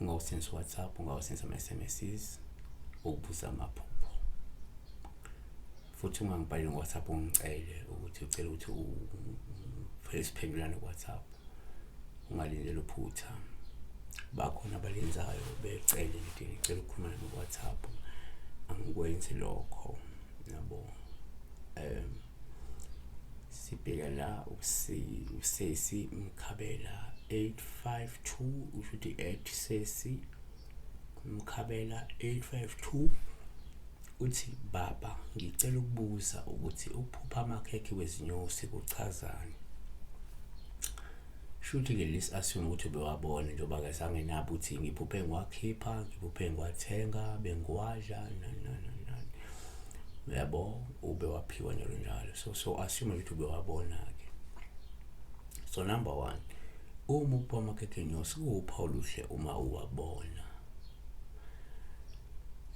ungawusebenzisa uwhatsapp ungawusebenzisa ama-sms ukubuza amaphupho futhi ungangibhaleli ngowhatsapp ungicele ukuthi ucela ukuthi uphele siphendulane kuwhatsapp ungalindeli uphutha bakhona abalenzayo becele nje ngicela ukukhuluma nami kuwhatsapp angikwenzi lokho yabo um sibheka la usesi mkhabela 852 usho ukuthi at sesi mkhabela 852 uthi baba ngicela ukubuza ukuthi ukuphupha amakhekhe wezinyosi kuchazani shuthi ke lesi assume ukuthi bewabona njengoba ke sangenabo ukuthi ngiphuphe ngiwakhipha ngiphuphe ngiwathenga bengiwadla nani nani uyabo ube waphiwa njalo njalo so so assume ukuthi ube wabona ke so number one uma upha amakhethenyosi kuwuphawu luhle uma uwabona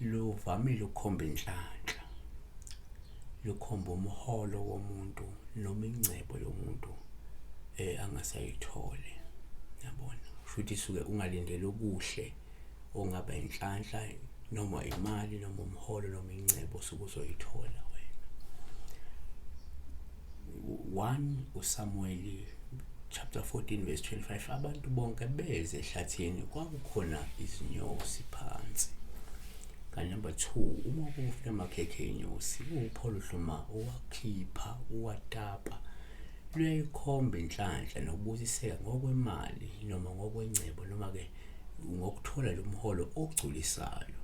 luvamile ukukhomba inhlanhla lukhomba umholo womuntu noma ingcebo yomuntu eh angasayithole yabona futhi suke ungalindele okuhle ungaba inhlanhla noma imali noma umholo noma ingcebo osuke uzoyithola wena one usamuweli chapter 14 verse 25 abantu bonke beze ehlathini kwakukhona izinyosi phansi kanti number 2 uma kufika amakhekhe enyosi upholo hluma uwakhipha uwatapa luyayikhomba inhlanhla nokubusiseka ngokwemali noma ngokwengcebo noma ke ngokuthola lo mholo ogculisayo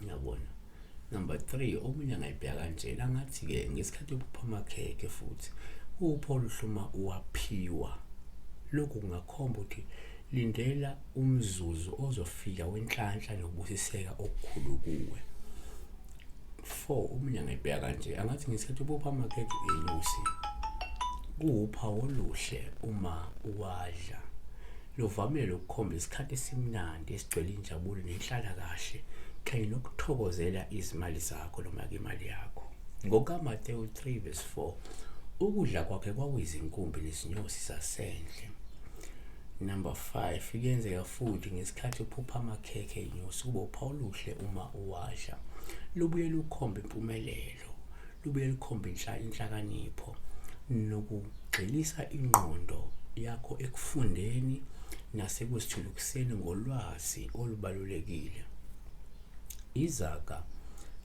ngiyabona number 3 omunye angayibheka kanje langathi ke ngesikhathi yokuphuma khekhe futhi upho luhluma uwaphiwa lokhu kungakhomba ukuthi lindela umzuzu ozofika wenhlanhla nokubusiseka okukhulu kuwe four omunye angayibheka kanje angathi ngesikhathi ubopha amakhekhe inyosi kuwuphawu oluhle uma uwadla luvamile ukukhomba isikhathi esimnandi esigcwele injabulo nenhlala kahle kanye nokuthokozela izimali zakho noma ke imali yakho ngokamatewu 3 verse 4 ukudla kwakhe kwakuyizinkumbi nezinyosi zasendle number 5 kuyenzeka futhi ngesikhathi uphupha amakhekhe inyosi kube uphawu oluhle uma Washa lubuye lukhombe impumelelo, lubuye lukhombe inhlakanipho nokugxilisa ingqondo yakho ekufundeni nasekuzithuthukiseni ngolwazi olubalulekile. Izaga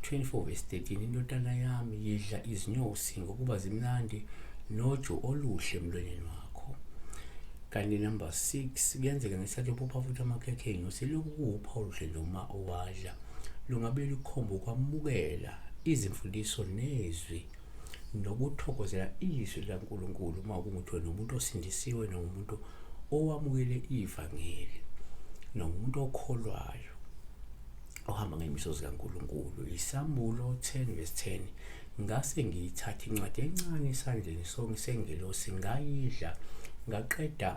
24 vs 13 indodana yami yidla izinyosi ngokuba zimnandi noju oluhle emlonyeni wakho. kanti number six kuyenzeka ngesikhathi uphupha futhi amakhekhe enyo selokhu kuwupha oludle noma owadla lungabe lukhomba ukwamukela izimfundiso nezwi nokuthokozela izwi laNkulunkulu uma kungukuthi wena umuntu osindisiwe nomuntu owamukele ivangeli nomuntu okholwayo ohamba ngey'miso zikaNkulunkulu yisambulo 10 vesi 10 ngase ngiyithatha incwadi encane esandleni sonke sengelosi ngayidla ngaqeda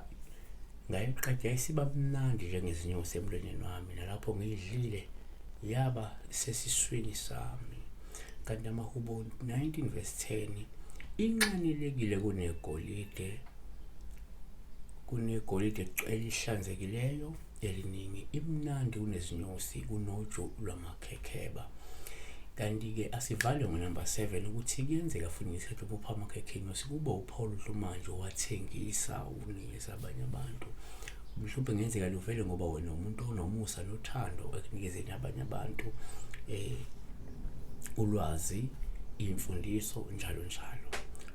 ngayiqeda isiba mnandi njengezinyosi emlonyeni wami nalapho ngiyidlile yaba sesiswini sami kanti amahubo 19 vesi 10 inxanelekile kunegolide kunegolide elihlanzekileyo eliningi imnandi kunezinyosi kunoju lwamakhekheba kanti-ke asivale ngonumber 7 ukuthi kuyenzeka futhi ngesikhathi ubopha amakhekhe inyosi kube uphawula uhlu manje wathengisa unikeza abanye abantu mhlawumbe ngenzeka luvele ngoba wena umuntu onomusa nothando ekunikezeni abanye abantu eh ulwazi imfundiso njalo njalo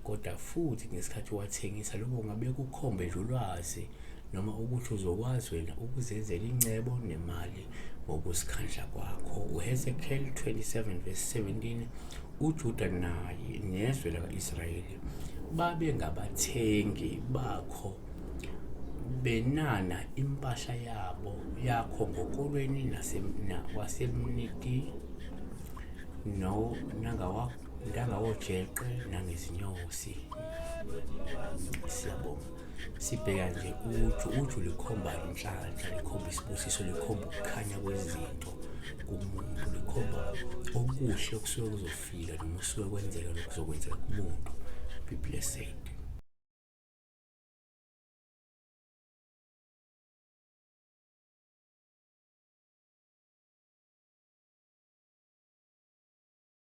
kodwa futhi ngesikhathi wathengisa lokho ngabe kukhombe nje ulwazi noma ukuthi uzokwazi wena ukuzenzela incebo nemali ngokuzikhandla kwakho uhezekiel 27 verse 17 ujuda naye nezwe laka-israyeli babe ngabathengi bakho benana impahla yabo yakho ngokolweni wasemniti no nangawakho intanga wojeqe nangezinyosi siyabonga sibheka nje uju uju likhomba inhlanhla likhomba isibusiso likhomba ukukhanya kwezinto kumuntu likhomba okuhle okusuke kuzofika noma usuke kwenzeka nokuzokwenzeka kumuntu be blessed